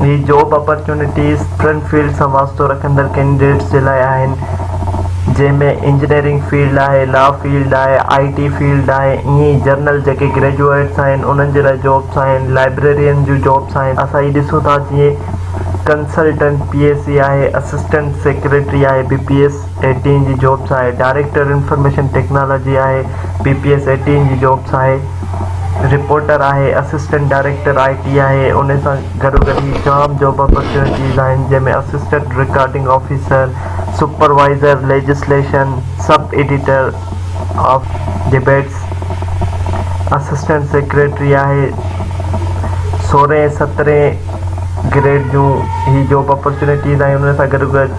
هي job opportunities ٽن fields سان واسطو رکندڙ ڪينڊيڊيٽس جي لاء آهن جنهن ۾ انجنيئرنگ فيلڊ آهي لا فيلڊ آهي آئي ٽي فيلڊ آهي ائين ئي جنرل جيڪي گريجوئيٽس آهن انهن جي لاء جابس آهن لائبريرين جون جابس آهن اسان هي ڏسون ٿا جيئن ڪنسلٽنٽ پي اي سي آهي اسسٽنٽ سيڪريٽري آهي بي پي ايس ايٽين جي جابس آهي ڊائريڪٽر انفارميشن ٽيڪنالاجي آهي پي پي ايس ايٽين جي جابس آهي رپورٽر آهي اسسٽنٽ ڊائريڪٽر آئي ٽي آهي ان سان گڏوگڏ هي جام جاب اپرچونيٽيز آهن جنهن ۾ assistant recording officer supervisor legislation sub editor of debates assistant secretary آهي سورهين سترهين گريڊ جون هي جاب اپرچونيٽيز آهن ان سان گڏوگڏ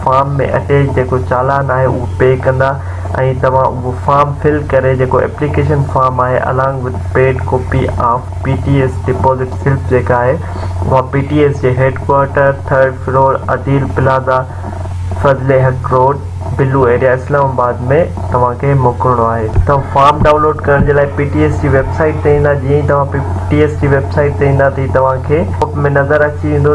فارم ۾ اچي جيڪو چالان آهي اهو پي ڪندا ۽ توهان اهو فارم فل ڪري جيڪو ايپليڪيشن فارم آهي along with paid copy of P T S deposit slip جيڪا آهي اها پي ٽي ايس جي head quarter third floor Adeel plaza Fazal Haq road blue area Islamabad ۾ توهان کي موڪلڻو آهي. توهان فارم ڊائونلوڊ ڪرڻ جي لاء پي ٽي ايس جي ويب سائيٽ تي ايندا جيئن ئي توهان پي ٽي ايس جي ويب سائيٽ تي ايندا ته توهان کي پاپ اپ ۾ نظر اچي ويندو.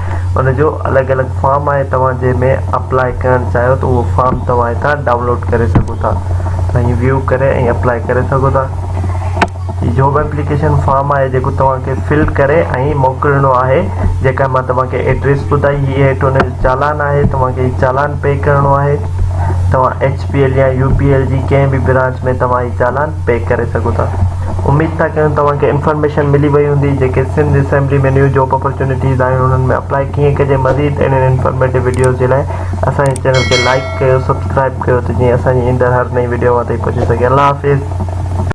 ان جو الڳ الڳ فارم آهي توهان جنهن ۾ اپلاء ڪرڻ چاهيو ٿا اهو فارم توهان هتان ڊائونلوڊ ڪري سگهو ٿا ۽ ويو ڪري ۽ اپلاء ڪري سگهو ٿا هي جاب اپليڪيشن فارم آهي جيڪو توهان کي فل ڪري ۽ موڪلڻو آهي جيڪا مان توهان کي ايڊريس ٻڌائي هي هيٺ ان جو چالان آهي توهان کي هي چالان پي ڪرڻو آهي توهان ايڇ پي ايل يا يو پي ايل جي ڪنهن به برانچ ۾ توهان هي چالان پيڪ ڪري سگهو ٿا اميد ٿا ڪيون توهان کي انفارميشن ملي وئي هوندي جيڪي Sindh assembly ۾ new job opportunities آهن انهن ۾ اپلائي ڪيئن ڪجي مزيد اهڙين انفارميٽو وڊيوز جي لاء اسان جي چينل کي لائڪ ڪيو سبسڪرائب ڪيو ته جيئن اسان جي ايندڙ هر نئين وڊيو اوهان تائين پهچي سگهي الله حافظ